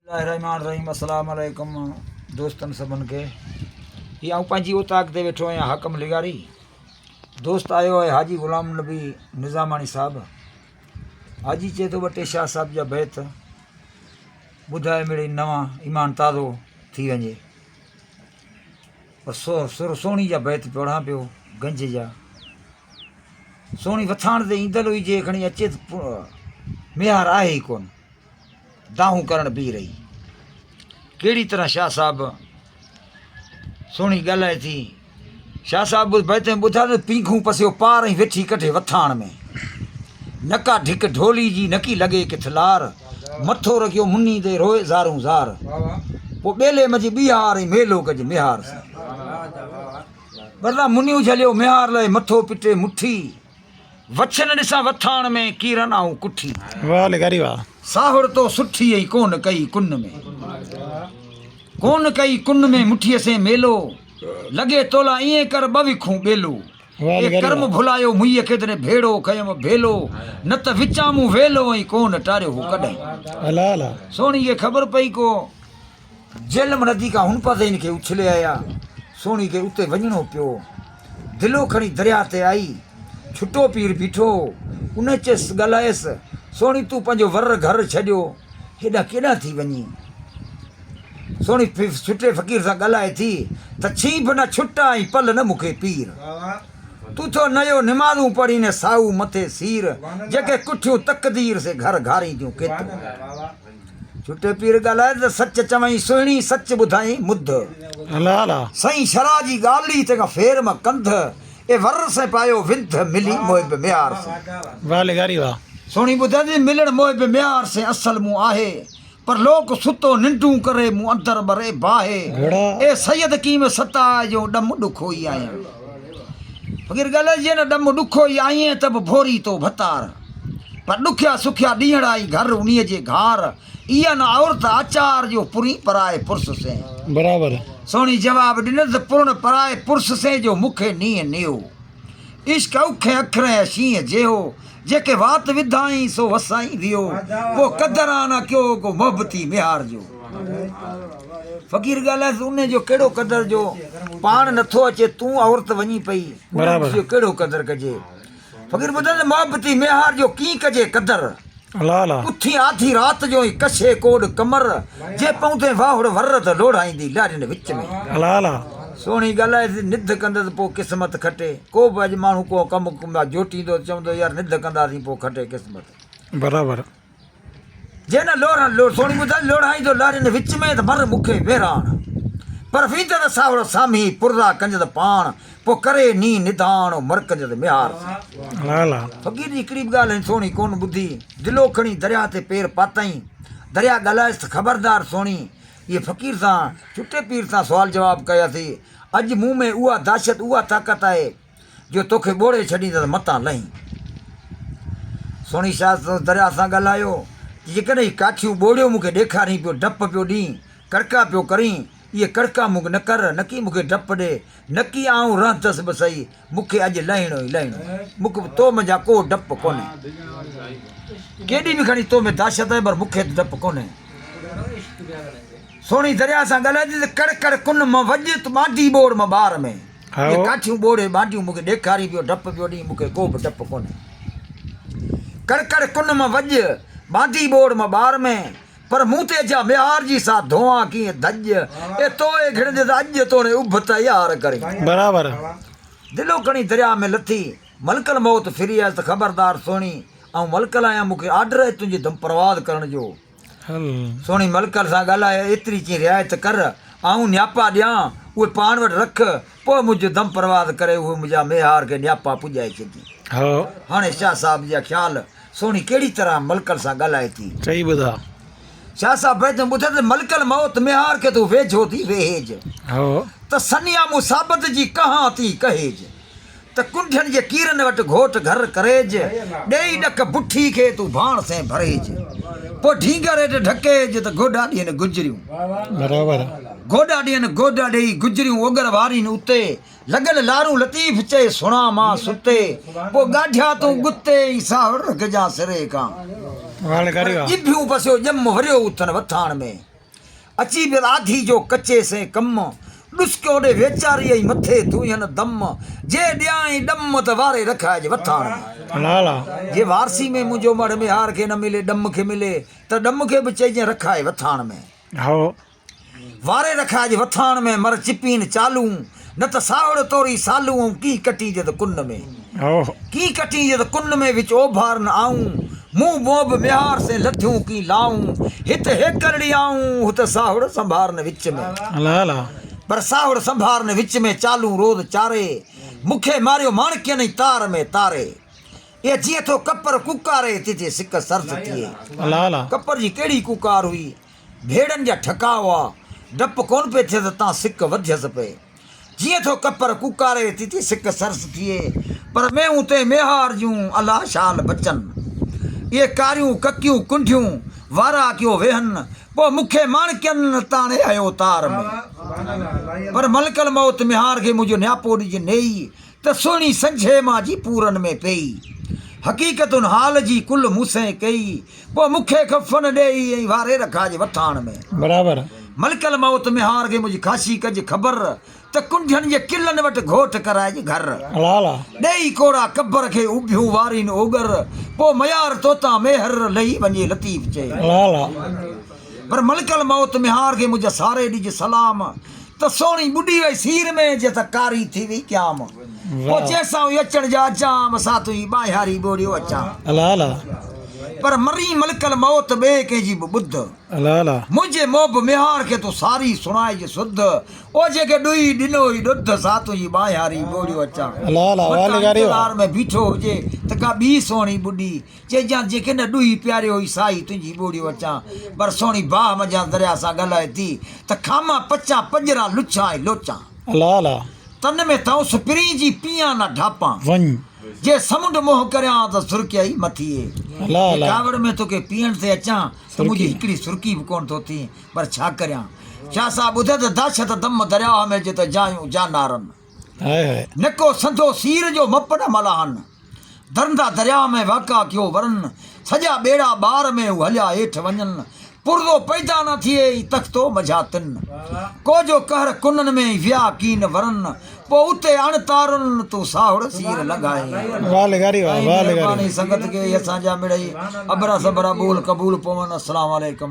الله الرحمٰن الرحيم السلام عليڪم دوستن سڀن کي هي آئون پنهنجي اوطاق تي ويٺو آهيان حاڪم لغاري دوست آيو آهي حاجي غلام النبي نظاماڻي صاحب حاجي چئي ٿو ٻه ٽي شاهه صاحب جا بيت ٻڌائي مڙي نوان ايمان تازو ٿي وڃي پر سو سر سوڻي جا بيت پڙهان پيو گنج جا سوڻي وٿاڻ تي ايندل هجي کڻي اچي ميهار آهي ئي ڪونه دانهون ڪرڻ بيهي رهي. ڪهڙي طرح شاهه صاحب سهڻي ڳالهائي ٿي. شاهه صاحب به بيتين ٻڌا ته پينگهون پسيو پار ۽ ويٺي ڪڍي وٿاڻ ۾. نڪا ڍڪ ڍولي جي نڪي لڳي ڪٿ لار. مٿو رکيو مني تي روئي زارون زار. پوء ٻيلي منجهه ٻيهار ۽ ميلو ڪج ميهار سان. ٻرلا مني اجهليو ميهار لئي مٿو پٽي مٺي. وڇن ڏسان وٿاڻ ۾، ڪيرن آئون ڪٺي. واھ لغاري واھ. ساهڙ تو سٺي اي ڪون ڪئي ڪن ۾. ڪون ڪئي ڪن ۾ مٺيء سين ميلو، لڳي تولا ائين ڪر ٻه وکون ٻيلو. اي ڪرم ڀلايو مئي ڪيدني ڀيڙو ڪيم ڀيلو، نه ته وچان مون ويلو ائين ڪون ٽاريو هو ڪڏهن. سهڻي کي خبر پئي ڪو. جهلم ندي کان هن پاسي هن کي اڇلي آيا. سهڻي کي اتي وڃڻو پيو. دلو کڻي درياهه تي آئي. ڇٽو پير بيٺو هو. ان چيس، ڳالهايس، سهڻي تون پنهنجو ور گهر ڇڏيو هيڏانهن ڪيڏانهن ٿي وڃين؟ سهڻي ڇٽي فقير سان ڳالهائي ٿي ته ڇينهن ڀنا ڇٽا ۽ پل نه مون کي پير. تون ٿو نيو نمازون پڙهين ني سائو مٿي سير. جيڪي ڪٺيون تقدير سي گهر گهارين تيون ڪيترو. جھوٽي پير ڳالھائي ته سچ چوين سهڻي سچ ٻڌائين مڌ سئين شرح جي ڳالھي تنهن کان ڦير مان ڪنڌ اي ور سئين پايو وڌ ملي محب ميار سئين سهڻي ٻڌندي ملڻ محب ميار سئين اصل مون آهي پر لوڪ ستو ننڊون ڪري مون اندر ٻري باهي اي سيد ڪيم ستاء جو ڏم ڏکوئي آهيان. فقير ڳلهه جي نه ڏم ڏکو ئي آئينء ته به ڀوري تو ڀتار پر ڏکيا سکيا ڏينهڙا ئي گهر انهيء جي گهار اي ان عورت آچار جو پرين پرائي پرس سين برابر سهڻي جواب ڏنس پرڻ پرائي پرس سين جو مون کي نينهن نيو عشق اوکين اکرين اشينء جيهو جيڪي وات وڌائين سو وسائين ويو ڪو قدر آ نه ڪيو ڪو محبتي ميهار جو فقير ڳالهائيس انهي جو ڪهڙو قدر جو پاڻ نٿو اچي تون عورت وڃي پئي برابر جو ڪهڙو قدر ڪجي فقير ٻڌن محبتي ميهار جو ڪين ڪجي قدر الا الا اٿي آڌي رات جو ۽ ڪشي ڪوڏ ڪمر جي پوندي واهڙ ور ته لوڙهائيندي لاڏين وچ ۾ الا الا سهڻي ڳالهائيس نڌ ڪندس پو قسمت کٽي ڪو به اڄ ماڻهو ڪو ڪم ڪندا جوٽيندو ته چوندو يار نڌ ڪنداسين پوء کٽي قسمت. برابر. جي نه لوڙهن لوڙهن سهڻي ٻڌائي لوڙهائيندو لارين وچ ۾ ته مر مونکي ويراڻ پر ويندء ته ساهوڙو سامهين پرزا ڪنجنس پاڻ پوء ڪري نينهن نڌاڻ او مر ڪنجنس ميهار سين. فقير جي هڪڙي به ڳالهه هن سهڻي ڪونه ٻڌي دلو کڻي درياهه تي پير پاتائين درياهه ڳالهائيس ته خبردار سهڻي اهي فقير سان ڇٽي پير سان سوال جواب ڪياسين اڄ مون ۾ اها دهشت اها طاقت آهي جو توکي ٻوڙي ڇڏيندس متان لهين. سهڻي شاهه سندس درياهه سان ڳالهايو ته جيڪڏهن هي ڪاٺيون ٻوڙيون مون کي ڏيکارين پيو ڊپ پيو ڏين ڪڙڪا پيو ڪرين اهي ڪڙڪا مون کي نه ڪر نڪي مون کي ڊپ ڏي نڪي آئون رهندس به سهي مون کي اڄ لهڻو ئي لهڻو آهي. مون کي تو م جا ڪو ڊپ ڪونهي. ڪيڏي به کڻي تو م دهشت آهي پر مون کي ته ڊپ ڪونهي. سهڻي درياء سان ڳالهائجي ته ڪڙ ڪڙ ڪن م وڄ ته ٻانٽي ٻوڙ م ٻار ۾ اهي ڪاٺيون ٻوڙي ٻانٽيون مون کي ڏيکارين پيو ڊپ پيو ڏين مون کي ڪو به ڊپ ڪونهي. ڪڙ ڪڙ ڪن م وڄ ٻانٽي ٻوڙ م ٻار ۾. پر مون تي جا ميار جي سا ڌوئان ڪيئن ڌڄ اي توئي گهڙ جي سا اڄ توڻي اڀ تيار ڪرين. برابر. دلو کڻي درياء ۾ لٿي ملڪ الموت ڦري آيس ته خبردار سهڻي آئون ملڪل آهيان مون کي آرڊر آهي تنهنجي دم پرواز ڪرڻ جو. سهڻي ملڪل سان ڳالهائي ايتري چين رعايت ڪر آئون نياپا ڏيان اهي پاڻ وٽ رک پوء منهنجو دم پرواز ڪري اهي منهنجا ميار کي نياپا پڄائي ڇڏجي. هاڻي شاهه صاحب جا خيال سهڻي ڪهڙي طرح ملڪل سان ڳالهائي ٿي. چئي ٻڌاء. شاهه صاحب بيدم ٻڌ ته ملڪل موت ميهار کي تون ويجهو ٿي ويهيج. هو. ته سنيا مون ثابت جي ڪهان ٿي ڪهيج. ته ڪنڍين جي ڪيرن وٽ گهوٽ گهر ڪريج. ڏيئي ڏک بٺي کي تون ڀاڻ سين ڀريج. پوء ڍينگر هيٺ ڍڪيج ته گوڏا ڏين گجريون. برابر. گوڏا ڏين گوڏا ڏيئي گجريون اوڳر وارين اتي. لڳل لارون لطيف چئي سڻان مان ستي پوء ڳاڍيا تون ڳتي ۽ ساهڙ رک جا سري کان پر ڄڀيون پسيو ڄم وريو اٿن وٿاڻ ۾ اچي بل آڌي جو ڪچي سين ڪم ڏسڪيو ڏي ويچاري ۽ مٿي ڌوئين دم جي ڏيانء ڏم ته واري رکائج وٿاڻ ۾. جي وارسي ۾ منهنجو مڙهه ميهار کي نه ملي ڏم کي ملي ته ڏم کي به چئجين رکائي وٿاڻ ۾. واري رکاء جي وٿاڻ ۾ مر چپين چالون، نه ته ساهڙ توري سالون ائون ڪين ڪٽين جد ڪن ۾، ڪين ڪٽين جد ڪن ۾، وچ اوڀار نه آئون، مون موڀ ميهار سين لڌيون ڪين لائون، هت هيڪرڙي آئون، هت ساهڙ سنڀار نه وچ ۾، پر ساهڙ سنڀار نه وچ ۾، چالون روز چاري، مونکي ماريو ماڻڪين ۽ تار ۾ تاري، اي جيئن ٿو ڪپر ڪوڪاري، تيجي سڪ سرس ٿئي، ڪپر جي ڪهڙي ڪوڪار هئي. ڀيڙن جا ٺڪاء هئا، ڊپ ڪونه پئي ٿئي ته تان سڪ وڌيس پئي. جيئن ٿو ڪپر ڪوڪاري ٿي ٿي سڪ سرس ٿئي، پر مينهون تئين ميهار جون الا شال بچن. اهي ڪاريون ڪڪيون ڪنڍيون واراهڪيو ويهن، پوء مکي ماڻڪين تاڻي هيو تار ۾. پر ملڪ الموت ميهار کي منهنجو نياپو ڏجي نيئي ته سهڻي سجهي مان جي پورن ۾ پيئي حقيقتن حال جي ڪل مون سين ڪيئي پوء مون کي ڪفن ڏيئي ائين واري رکا جي وٿاڻ ۾ برابر ملڪ الموت ۾ هار گي منهنجي خاشي ڪج خبر ته ڪنڍين جي ڪلن وٽ گهوٽ ڪرائج گهر الا الا ڏيئي ڪوڙا قبر کي اوڀيون وارين اوڳر پوء ميار توتان ميهر لهي وڃي لطيف چئي الا الا. پر ملڪ الموت ۾ هار گي منهنجي ساري ڏج سلام ته سهڻي ٻڏي وئي سير ۾، جي ته ڪاري ٿي وئي ڄام. پوء چيس آئون اچڻ جا اچام، سا تون هي ٻاهياري ٻوڙيو اچان. پر مرين ملڪ الموت ٻئي ڪنهن جي به ٻڌ، منهنجي محب ميهار کي تون ساري سڻائج سڌ. او جيڪي ڏوهي ڏنو هئي ڏڌ، سا تون هي ٻاهياري ٻوڙيو اچان. متان انتظار ۾ بيٺو هجي ته ڪا ٻي سهڻي ٻڏي، چئجان جيڪي نه ڏوهي پياري هئي سائي تنهنجي ٻوڙي وچان پر سهڻي باهه منجهان درياء سان ڳالهائي ٿي ته کامان پچان پڄران لڇان ۽ لوچان. الا الا! تن ۾ ٿئون سپرين جي پيئان نه ڍاپان. وڃ! جي سمنڊ منهن ڪريان ته سرڪي اي مٿي اي. الا الا! جي ڪاوڙ ۾ توکي پيئڻ ٿي اچان ته منهنجي هڪڙي سرڪي به ڪونه ٿو ٿين پر ڇا ڪريان. شاهه صاحب ٻڌ ته دهشت دم درياهه ۾ جت جايون جانارن. نڪو سنڌو سير جو مپ نه ملاحن درندا درياء ۾ واڪا ڪيو ورن سڄا ٻيڙا ٻار ۾ هو هليا هيٺ وڃن پرزو پيدا نه ٿئي اي تختو مجها تن ڪو جو قهر ڪنن ۾ ويا ڪين ورن پو اتي اڻ تارن تون ساهڙ سير لنگهائي مهرباني سنگت کي اسان جا مڙئي ابرا سبرا ٻول قبول پون السلام عليڪم.